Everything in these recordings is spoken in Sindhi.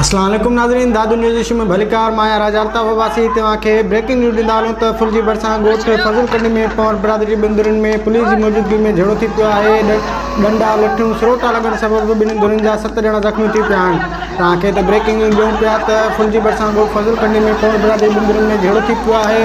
اسلام عليڪم ناظرين دادو نيوز ايشو ۾ ڀليڪار مان آهيان راجا الطاف عباسي توهان کي بريڪنگ نيوز ڏيندا هلون ته فل جي ڀرسان ڳوٺ فضل ڪنڊي ۾ پنور برادري جي ٻن ڌرين ۾ پوليس جي موجودگي ۾ جهيڙو ٿي پيو آهي ڏنڊا لٺيون سروٽا لڳڻ سبب ٻنهي ڌرين جا ست ڄڻا زخمي ٿي پيا آهن توهان کي ته بريڪنگ نيوز ڏيون پيا ته فل جي ڀرسان ڳوٺ فضل ڪنڊي ۾ پنور برادري جي ٻن ڌرين ۾ جهيڙو ٿي پيو آهي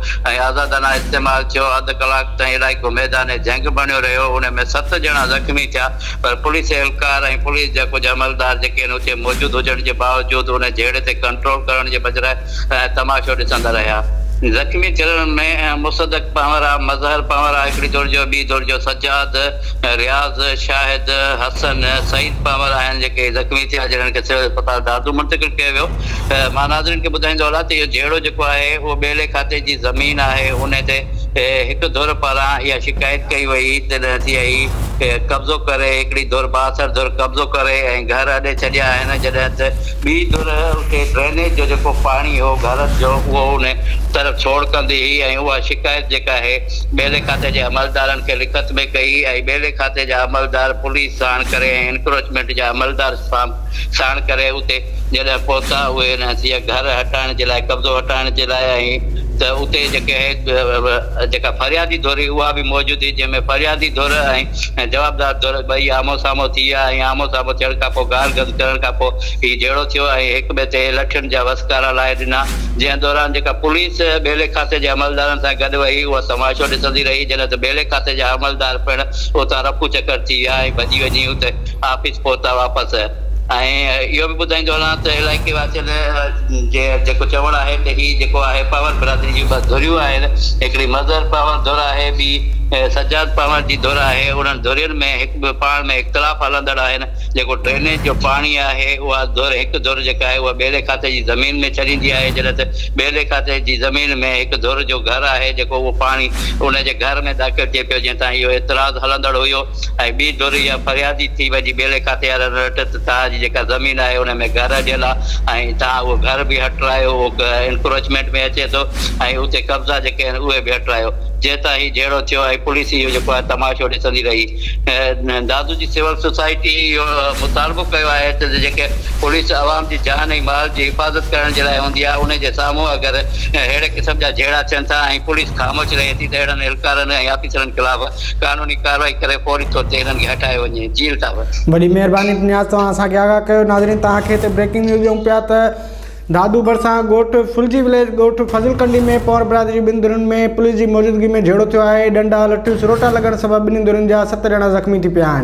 ۽ آزادانه استعمال ٿيو، اڌ ڪلاڪ تائين علائقو ميدان جنگ بڻيو رهيو، ان ۾ ست ڄڻا زخمي ٿيا پر پوليس اهلڪار ۽ پوليس جا ڪجهه عملدار جيڪي هن اتي موجود هجڻ جي باوجود ان جهيڙي تي ڪنٽرول ڪرڻ جي بجراء تماشو ڏسندا رهيا. زخمي ٿيلن ۾ مصدق پنهورا، مظهر پنهورا هڪڙي ڌر جو، ٻي ڌر جو سجاد، رياض، شاهد، حسن، سعيد پنهور آهن جيڪي زخمي ٿيا جنھن کي سول اسپتال دادو منتقل ڪيو ويو. مان ناظرين کي ٻڌائيندو هلان ته اهو جهيڙو جيڪو آهي اهو ٻيلي کاتي جي زمين آهي انهي تي هڪ ڌر پاران اها شڪايت ڪئي وئي ته سي آء اي قبضو ڪري هڪڙي ڌر بااثر ڌر قبضو ڪري ۽ گهر اڏي ڇڏيا آهن جڏهن ته ٻي ڌر اتي ڊرينيج جو جيڪو پاڻي هو گهرن جو اهو انهي طرف ڇوڙ ڪندي هئي ۽ اها شڪايت جيڪا آهي ٻيلي کاتي جي عملدارن کي لکت ۾ ڪئي ۽ ٻيلي کاتي جا عملدار پوليس ساڻ ڪري ۽ انڪروچمينٽ جا عملدار سام ساڻ ڪري اتي جڏهن پهتا اهي ان هسيء گهر هٽائڻ جي لاء قبضو هٽائڻ جي لاء ۽ ته اتي جيڪي جيڪا فريادي ڌر هئي اها به موجود هئي جنهن ۾ فريادي ڌر ۽ جوابدار ڌر ٻئي آمهون سامهون ٿي ويا ۽ آمهون سامهون ٿيڻ کان پوء گار گز ڪرڻ کان پوء هي جهيڙو ٿيو ۽ هڪ ٻئي تي لٺين جا وسڪارا لائي ڏنا جنهن دوران جيڪا پوليس ٻيلي کاتي جي عملدارن سان گڏ ويئي اها تماشو ڏسندي رهي جڏهن ته ٻيلي کاتي جا عملدار پڻ اتان رفو چڪر ٿي ويا ۽ ڀڄي وڃي اتي آفيس پهتا واپس ۽ اهو به ٻڌائيندو هلان ته علائقي واسين جي جيڪو چوڻ آهي ته هي جيڪو آهي پنهور برادري جون ٻه ڌريون آهن هڪڙي مظهر پنهور ڌر آهي ٻي سجاد پنهور جي ڌر آهي انهن ڌرين ۾ هڪ ٻئي پاڻ ۾ اختلاف هلندڙ آهن جيڪو ڊرينيج جو پاڻي آهي اها ڌر هڪ ڌر جيڪا آهي اها ٻيلي کاتي جي زمين ۾ ڇڏيندي آهي جڏهن ته ٻيلي کاتي جي زمين ۾ هڪ ڌر جو گهر آهي جيڪو اهو پاڻي انهن جي گهر ۾ داخل ٿئي پيو جنهن تان اهو اعتراض هلندڙ هيو ۽ ٻي ڌر اها فريادي ٿي وئي جي ٻيلي ڪاٿي يا رن رٽ ته توهان جي جيڪا زمين آهي ان ۾ گهر اڏيل آهي ۽ توهان اهو گهر به هٽرايو اهو انڪروچمينٽ ۾ اچي ٿو ۽ اتي قبضا جيڪي آهن اهي به هٽرايو جنهن تان هي جهيڙو ٿيو ۽ پوليس اهو جيڪو آهي تماشو ڏسندي رهي دادو جي سول سوسائٽي اهو مطالبو ڪيو آهي ته جيڪي پوليس عوام جي جان ۽ مال جي حفاظت ڪرڻ جي لاء هوندي آهي ان جي سامهون اگر اهڙي قسم جا جهيڙا ٿين ٿا ۽ پوليس خاموش رهي ٿي ته اهڙن اهلڪارن ۽ آفيسرن خلاف قانوني ڪارروائي ڪري فوري طور تي انهن کي هٽايو وڃي ۽ جيل تان وٺ. وڏي مهرباني نياز توهان اسان کي آگاهه ڪيو ناظرين توهان کي هتي بريڪنگ نيوز ڏيون پيا ته دادو ڀرسان ڳوٺ ڦلجي وليج ڳوٺ فضل ڪنڊي ۾ پونئر برادري ٻن ڌرين ۾ پوليس جي موجودگي ۾ جهيڙو ٿيو آهي ڏنڊا لٺيون سروٽا لڳڻ سبب ٻنهي ڌرين جا ست ڄڻا زخمي ٿي پيا آهن.